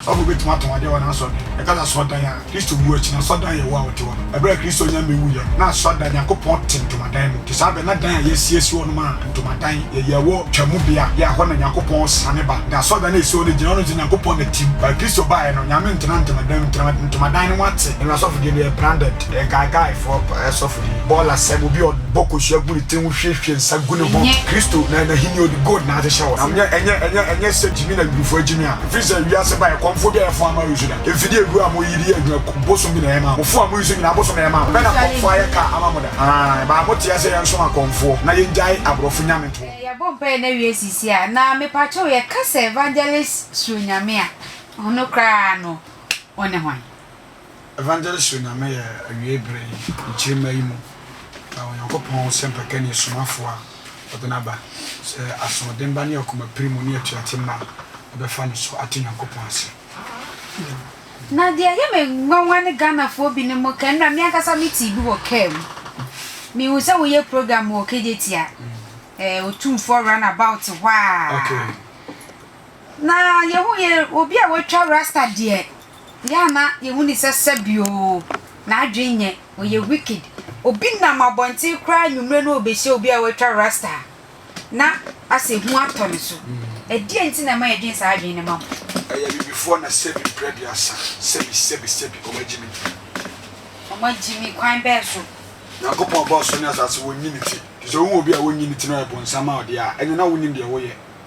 Ɔbɔfo bi betumi atɔn ade wɔ n'asɔr no kɛkɛ asɔrdan a Kristo wu akyi no asɔrdan a ɛyɛ hu a ɔte hɔ no. Bere a Kristo nya me wuiɛ no, na asɔrdan, Nyankopɔn te ntomadan mu. Te saa bere no, na dan a yɛasiesie hɔ no ma ntomadan yɛ yɛn wɔ Twam bea bi a ɛhɔ na Nyankopɔn siane ba. Na asɔrdan a esi hɔ no gyina hɔ no sɛ Nyankopɔn na te mu. Bere a Kristo baeɛ no, Nyame ntenaa ntomadan mu, tra ntomadan no ho ate. Ɛnnɛ asɔfodie no yɛ branded, ɛyɛ nkaekaefoɔ asɔfodie. Bɔɔla sɛm, obi a ɔbɔ kosua gu ne tiri ho hwiehwie nsa gu ne ho. Kristo na N'ahenni a ɔde gold na ahyehyɛ hɔ no, ɛnyɛ ɛnyɛ ɛnyɛ ɛnyɛ sɛ gyimi na Hebrifoɔ agyimi a. Firi sɛ wiase baeɛ kɔmfoɔ bi a yɛfoa ama yi so da. Mfidie aduro a moyi de yɛ adwuma ku bosom bi na ɛyɛ maa mo. Mofoɔ a moyi so nyinaa bosom na ɛyɛ maa mo. Bɛn na kɔmfoɔ ayɛ kaa ama mo da? Aane, ɛbaa mo teɛ sɛ yɛnsom akɔmfoɔ na yɛgyae aborɔfo nyame toɔ no. Yɛbɔ mpaeɛ no awie sisi a, na mepakyɛw yɛka sɛ Evangelist Suro Nyame a, ɔno koraa no, wo ne hwan? Evangelist Onyame yɛ awiei bere yi, nkyirimma yi mu, na Onyankopɔn sɛ mpakani somafo a ɔde no aba, sɛ asoɔden ba ne akomapirim mu ne atuate mma bɛfa no so ate Nyankopɔn ase. Na deɛ ɛyɛ me nwanwa ne Ghanafoɔ bi nom kɛ nnora me ankasa me tee bi wɔ car mu me hu sɛ wo yɛ program wɔ KJT a ɛɛ Otumfoɔ run about hɔ aa. Okay. Na yehu yɛ obi a watwa rasta deɛ yɛ a na yehu ne sɛ sɛbi oo n'adwene nyɛ ɔyɛ wicked obi nam abɔnten koraa anwummerɛ na ɔbɛhyia obi a watwa rasta a na asɛ hu atɔ ne so ɛdeɛn nti na ɛma yɛdwene saa adwene no ma mo. Ɛyɛ abibifoɔ na sɛbi mprɛ aduasa sɛbi sɛbi sɛbi wɔn agyi me. Wɔn agyi me kwan bɛɛ so. Nyankopɔn bɔɔ soro ne asase wɔnyi ne ti nti sɛ wohu obi a wɔnyi ne ti na ɔyɛ bonsam a ɔdeɛ a ɛneɛ na wonim deɛ woyɛ.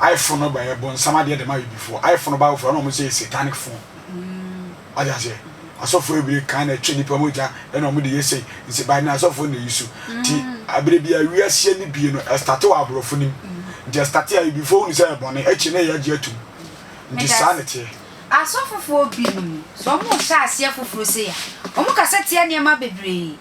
iPhone no bɛyɛ bonsam adeɛ dema abibifoɔ iPhone no bible foɔ ɛna ɔmo sɛ yɛ satanic phone wagye aseɛ asɔfoɔ ebire kan na ɛtwe nipa mogya ɛna ɔmo de yɛ sei nse by na asɔfoɔ na yi so ti abire bi awiaseɛ ne bie no ɛstate wɔ aborɔfo nim nti ɛstate abibifoɔ hunu sɛ ɛbɔne akyi na yɛ agye atum nti saa na ɛteɛ. Asɔfofoɔ binom sɛ ɔmo hyɛ aseɛ foforo sei a ɔmo kasa tia nneɛma bebree.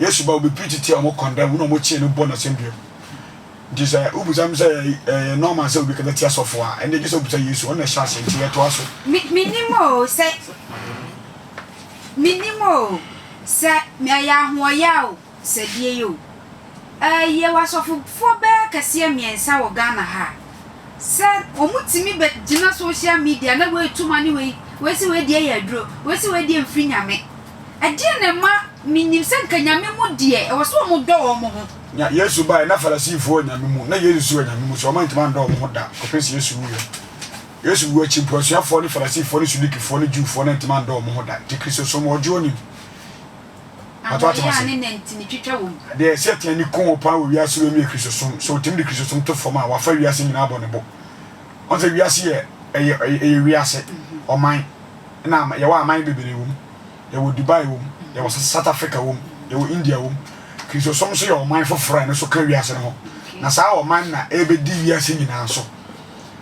Yesu ba obi preach tia ɔmo condemn na ɔmo kye no bɔ no asɛndua mu nti sɛ wobisa me sɛ ɛyɛ normal sɛ obi kasa tia sɔfo a ɛnde gye sɛ wobisa Yesu ɔno na ɛhyɛ ase nti yɛtoa so. Me menim oo sɛ menim oo sɛ mɛyɛ ahoɔyɛ a o sɛ deɛ yɛ o ɛɛ yɛwɔ asɔfofoɔ bɛɛ kɛseɛ mmiɛnsa wɔ Ghana ha a sɛ ɔmo tumi bɛ gyina social media na wei tu ma ne wei wei se wei deɛ yɛ aduro wei se wei deɛ mfiri nyame Ɛdeɛn na ɛma menim sɛ nka Nyame mu deɛ ɛwɔ sɛ wɔn dɔ wɔn ho? Nya Yesu baeɛ na Farisifoɔ wɔ Nyame mu, na Yesu nso wɔ Nyame mu, so wɔn antumi andɔ wɔn ho da kɔpem sɛ Yesu wuiɛ. Yesu wu akyi mpo, asuafoɔ ne Farisifoɔ ne Sudukifoɔ ne Jewfoɔ no antumi andɔ wɔn ho da, gye Kristosom wɔ ɔdwoɔ no mu. Adeɛ a ne na nti ne twitwa wɔ mu. Deɛ Satan di koo paa wɔ wiase wei mu yɛ Kristosom, so ɔtumi de Kristosom to fam a, wafa wiase nyinaa abɔ ne bo. Wɔn sɛ wiase yɛ ɛyɛ ɛyɛ wiase ɔman na yɛwɔ aman bebree wɔ mu yɛwɔ Dubai wɔ mu yɛwɔ South Africa wɔ mu yɛwɔ India wɔ mu Kristosom nso yɛ ɔman foforɔ a ɛno nso ka wiase no ho na saa ɔman na ɛbɛdi wiase nyinaa so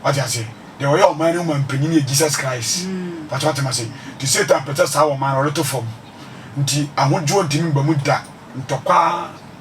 wate ase deɛ ɔyɛ ɔman no mu ma mpanyin yɛ Jesus Christ pàtó wate ma se ti Satan pɛtɛ saa ɔman no ɔde to fam nti ahodwoɔ ntumi mba mu da ntɔkwa.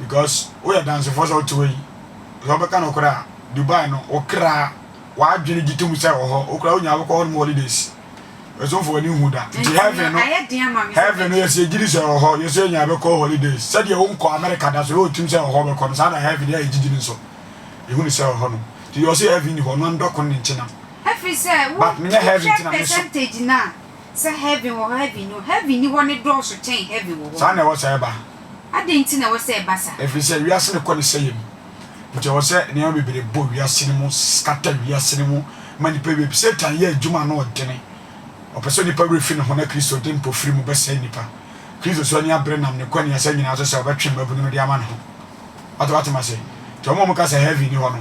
because woyɛ dansefoɔ sɛ wote hɔ yi sɛ wobɛka nokorɛ a Dubai no wo kra w'adwene gye tom sɛ wɔ hɔ wo kra wonya wobɛkɔ hɔ nom holidays ɛsomfo w'ani nhu da nti heaven no heaven no yɛsɛ yɛgye di sɛ wɔ hɔ yɛsɛ yɛnya bɛkɔ holidays sɛdeɛ wonkɔ America da so yɛ wotim sɛ wɔ hɔ wobɛkɔ no saa na heaven yɛ yɛgyegye no nso yɛhu ne sɛ wɔ hɔ nom nti yɛ ɔsɛ heaven ni hɔ no andɔko ne nkyena but menyɛ heaven ntina meso Sɛ heaven wɔ hɔ heaven nni hɔ. Heaven nni hɔ no dɔɔso kyɛn heaven wɔ hɔ no. Saa na ɛwɔ sɛ ɛba. Adɛn nti na ɛwɔ sɛ ɛba saa? Ɛfiri sɛ wiase no kɔ ne sɛeɛ mu. Nti ɛwɔ sɛ nneɛma bebree bɔ wiase no mu, scatter wiase no mu ma nnipa bebree. Satan yɛ adwuma a na ɔdene. Ɔpɛ sɛ onipa werɛ fi ne ho na Kristo de mpofirim bɛsɛe nnipa. Kristo nso ani abere nam ne kɔniasa nyinaa so sɛ ɔbɛtwe mmabunu no de ama ne ho. Wate, woate me ase? Nti wɔn a wɔka sɛ heaven nni hɔ no,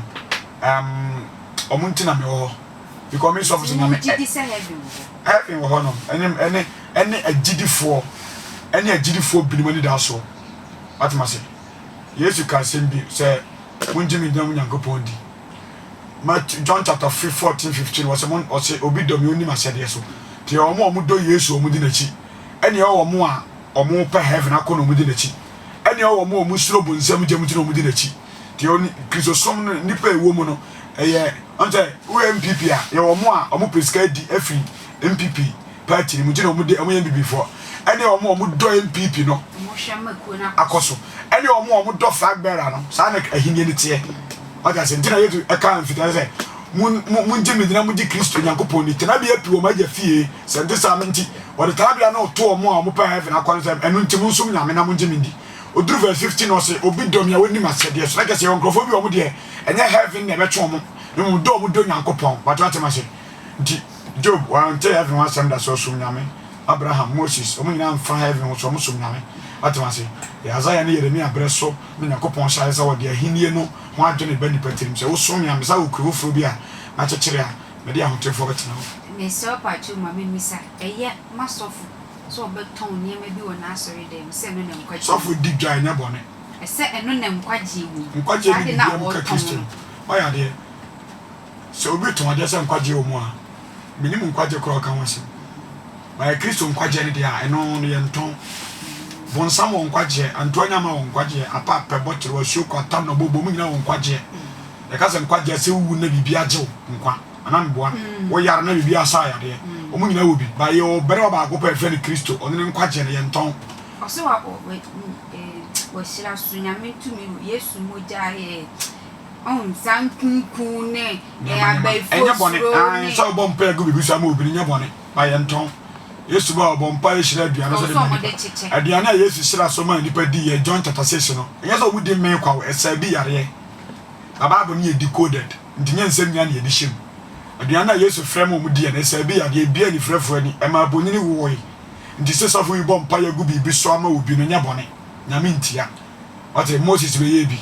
um, wɔn nti na mewɔ hɔ. Because me sɔfo sɛ nyame ɛ. Heaven wɔ hɔ nom. Ɛne ɛne ɛne agyidifoɔ ɛne agyidifoɔ binom anidasoɔ. Atem ase. Yesu ka asɛm bi sɛ mongye me dina mu Nyankopɔn di. Matthew John chapter fourteen fifteen wɔsɛ mo ɔsɛ obi dɔ me ɔnni m'ahyɛdeɛ so. Te wɔn a wɔdɔ Yesu wɔn di n'akyi. Ɛne ɛwɔ wɔn a wɔpɛ heaven akɔ na wɔn di n'akyi. Ɛne ɛwɔ wɔn a wɔsuro bonsam gya mu ti na wɔn di n'akyi. Deɛ ɔni Kristosom no nnipa a ɛwɔ mu no ɛyɛ ɔn sɛ wowɔ NPP a yɛwɔ ɔmo a ɔmo pɛ sika di afiri NPP party no mu nti na ɔmo de ɔmo yɛ NPP foɔ ɛne ɔmo a ɔmo dɔ NPP no akɔ so ɛne ɔmo a ɔmo dɔ flag bearer no saa na ahinie no teɛ ɔte ase nti na Yesu ɛka mfitaa sɛ mongye me dina mogye Kristo Nyankopɔn ni tenabea pi wɔ m'agya fie sɛ nte saa nti wɔde tenabea no to ɔmo a ɔmo pɛ heaven akɔ no sɛ ɛno nti monsom Nyame na mongye me ndi Ɔduru verse fifteen no ɔse obi dɔ me a ɔnni m'ahyɛdeɛ so. Na kyerɛ sɛ yɛwɔ nkurɔfoɔ bi a wɔn deɛ ɛnyɛ heaven na ɛbɛtwe wɔn na mmom dɔ a wɔdɔ Nyankopɔn. Wate wate mase? Nti Job wante heaven ho asɛm da sɛ ɔsom Nyame. Abraham, Moses, wɔn nyinaa mfa heaven ho sɛ wɔsom Nyame. Wate mase? Yɛ Isaiah ne Yeremia berɛ so na Nyankopɔn hyɛɛ aseɛ sɛ ɔde ahennie no ho adwene ba nnipa tirim. Sɛ wosom me a me saa okuro foforɔ bi a makyekyere a mede ahotefoɔ bɛtena mu. Mesrɛ wo pakyɛw ma me mmisa, ɛyɛ m'asɔfo Sɛ ɔbɛtɔn nneɛma bi wɔ n'asɔredan mu, sɛ ɛno na nkwagye wom. Sɔfo di dwa ɛnyɛ bɔne. Sɛ ɛno na nkwagye wom. Nkwagye nni biribiara mu ka Kristo no. Wayɛ adeɛ. Sɛ obi retɔn adeɛ sɛ nkwagye wɔ mu a, menim nkwagye koraa a ɔka ho asɛm. Bayɛ Kristo nkwagyeɛ no deɛ a, ɛno no yɛntɔn. Bonsam wɔ nkwagyeɛ, antuanyama wɔ nkwagyeɛ, apa, pɛ, bɔtoro, asuo, kwata, nnɔbɔ, bɔ, ɔmo nyinaa wɔ nkwagyeɛ. Yɛka sɛ nkwagyeɛ a, sɛ wuwu na biribi agye wo nkwa. Ana meboa? Wo yar na biribi asa ayadeɛ. Wɔn nyinaa wɔ bi. Ba yɛwɔ barima baako pɛ yɛfrɛ no Kristo. Ɔno ne nkwagyeɛ no, yɛntɔn. Ɔse wa wɔ wahyira so Nyame tumi wɔ Yesu mogya yɛ ɔhu saa nkunkun ne abayifoɔ suro ne. Ɛnyɛ bɔne sɛ wobɔ mpaeɛ gu biribi so ama obi no nyɛ bɔne ba yɛntɔn. Yesu ba ɔbɔ mpaeɛ hyira aduane so de ma nipa. Aduane a Yesu hyira so maa nipa dii yɛ John chapter 6 no. Ɛnyɛ sɛ wɔn di mee kwa o, ɛsaa bi yareɛ. Ba Bible no yɛ decoded. Enti nyɛ nsɛm nyinaa na yɛde hyɛ mu. Aduan no a Yesu frɛɛ ma wɔdii anaa ɛsaa bi yɛ adeɛ a ebuee anifirafoɔ ani, ɛmaa abonini wowoe. Enti sɛ sɔfo bi bɔ mpaeɛ gu biribi so ama obi no, nyɛ bɔne. Nyame ntia. Wate? Moses bɛyɛɛ bi.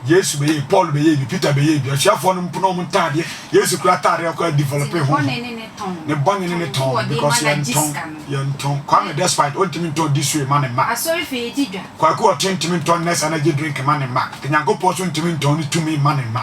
Yesu bɛyɛɛ bi. Paul bɛyɛɛ bi. Peter bɛyɛɛ bi. Asuafoɔ no mpo na wɔn ntaadeɛ, Yesu koraa ataadeɛ koraa developee honhom. Ne bɔne ne ne tɔn, because yɛntɔn, yɛntɔn. Kwame despite ɔntumi ntɔn Disue mma ne mma. Kwaku Ɔteng ntumi ntɔn Nest Energy Drink mma ne mma. Nyankopɔn nso ntumi ntɔn ne tumi mma ne mma.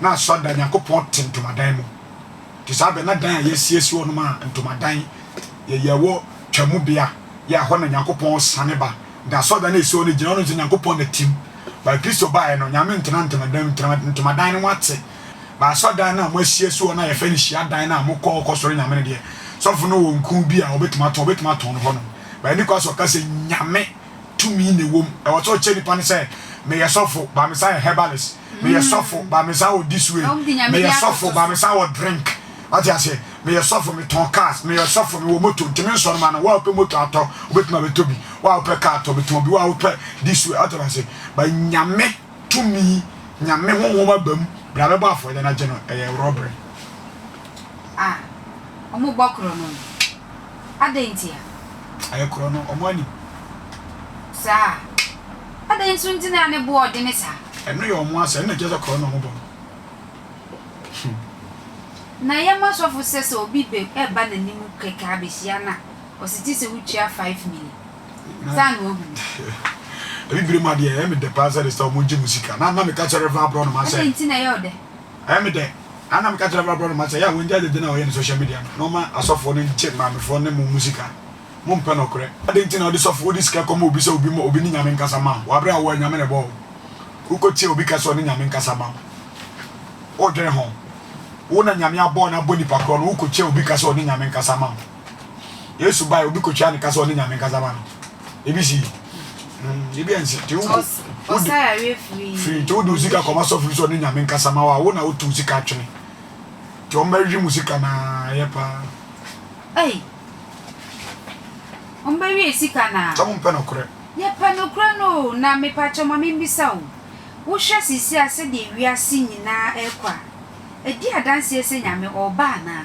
Na asɔrdan Nyankopɔn te ntomadan mu. Ntsi saa aber no na dan a yesiesie hɔ no maa ntomadan yɛ yɛwɔ Twam bea, yɛ a hɔ na Nyankopɔn sian ba. Ntsi asɔrdan a esi hɔ no gyina ɔno ntsi Nyankopɔn na tsim. But Kristo bae no, Nyame nntsena ntomadan mu, ntsi ntomadan no ho atse. But asɔrdan no a moesiesie hɔ no a yɛfrɛ no hyiadan no a mokɔ hɔ kɔsɔre Nyame no deɛ, sɔfo no wɔ nku bi a obetumi atõ, obetumi atõ no hɔnom. But nnyi kwan sɛ ɔka sɛ Nyame tumi na ewɔ mu. Ɔwɔ sɛ ɔkyerɛ nyimpa no sɛ, Meyɛ sɔfo, but mesan yɛ herbalist. meyɛ sɔfo ba me san wɔ this way meyɛ sɔfo ba me san wɔ drink wate aseɛ meyɛ sɔfo metɔn cars meyɛ sɔfo mewɔ moto nti me nsɔre ma no woa wopɛ moto atɔ wobɛtumi abɛtɔ bi woa wopɛ car atɔ bɛtɔn bi woa wopɛ this way wate aseɛ ba nyame tumi nyame honhom aba mu bra bɛbɔ afɔdeɛ no agye no ɛyɛ rɔbere ah ɔmo bɔ korɔ no Adɛn ntia? Ayɛ korɔ no, wɔn anim. Saa? Adɛn nso nti na ne bo ɔdene saa? Ɛno yɛ wɔn asɛm, na ɛkyerɛ sɛ korɔ na wɔbɔ no. Na yɛma sɔfo sɛ sɛ obi bɛ ɛba n'anim kɛkɛ abɛhyia no a, ɔsete sɛ wotua five mili. Saa na wahu no. Abibire mu adeɛ, ɛyɛ me dɛ paa sɛ ɛde sɛ wɔgye mo sika. Na na meka kyerɛ Rev. Aborɔnoma sɛ. Adɛn nti na ɛyɛ wo dɛ? Ɛyɛ me dɛ a na meka kyerɛ m'aborɔnoma sɛ ɛyɛ a wɔngyae dede no a wɔyɛ no social media no na wɔmma asɔfoɔ no ngye maamefoɔ ne mo mu sika. Mo mpɛ nɔkorɛ. Adɛn nti na wode sɔfo wode sika kɔma obi sɛ obi ma obi ne Nyame nkasa ma wo? Wɔ aberɛ a woa Nyame na ɛbɔɔ wo? Wokɔ tia obi ka sɛ ɔne Nyame nkasa ma wo? Wodwene ho? Wo na Nyame abɔɔ no abɔ nipa korɔ no wokɔ tia obi ka sɛ ɔne Nyame nkasa ma wo? Yesu bae obi kotwa ne kasa ɔne Nyame nkasa ma no. Ebi si. Mm, ebi ansi. Te wo. Ɔsan awie firi. Firi te wo de sika kɔma sɔfiri sɛ ɔne Nyame nkasa ma wa wo na wotu sika atwene. Te wɔn bɛhwehwɛ mu sika na yɛ paa. Ei. Wɔn bɛwie sika na. Sɛ mo mpɛ no korɛ. Yɛ pɛ no korɛ no na mepakyɛ ma membisa o. Wohwɛ sisi a sɛdeɛ wiase nyinaa ɛkɔ a, ɛdi adanseɛ sɛ Nyame ɔba anaa?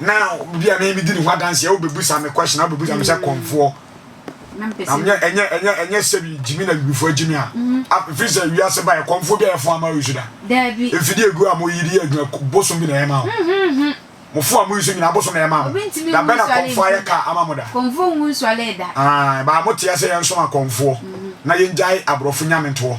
na obi a mimi di ne ho adanseɛ wobɛbusa me question a wobɛbusa me sɛ kɔmfoɔ ɛnyɛ ɛnyɛ ɛnyɛ ɛnyɛ sɛbi gyimi na wifoɔ gyimi a ɛfiri sɛ wiase ba ɛkɔmfoɔ bi a yɛfo ama wisu da mfidie gu a moyi de yɛ adwuma bosom bi na ɛma wo mofo a moyisu nyina bosom na ɛma mo da bɛ na kɔmfoɔ ayɛ ka ama mo da baa moteɛ sɛ yɛnsom akɔmfoɔ na yɛngyae aborɔfo nyamentoɔ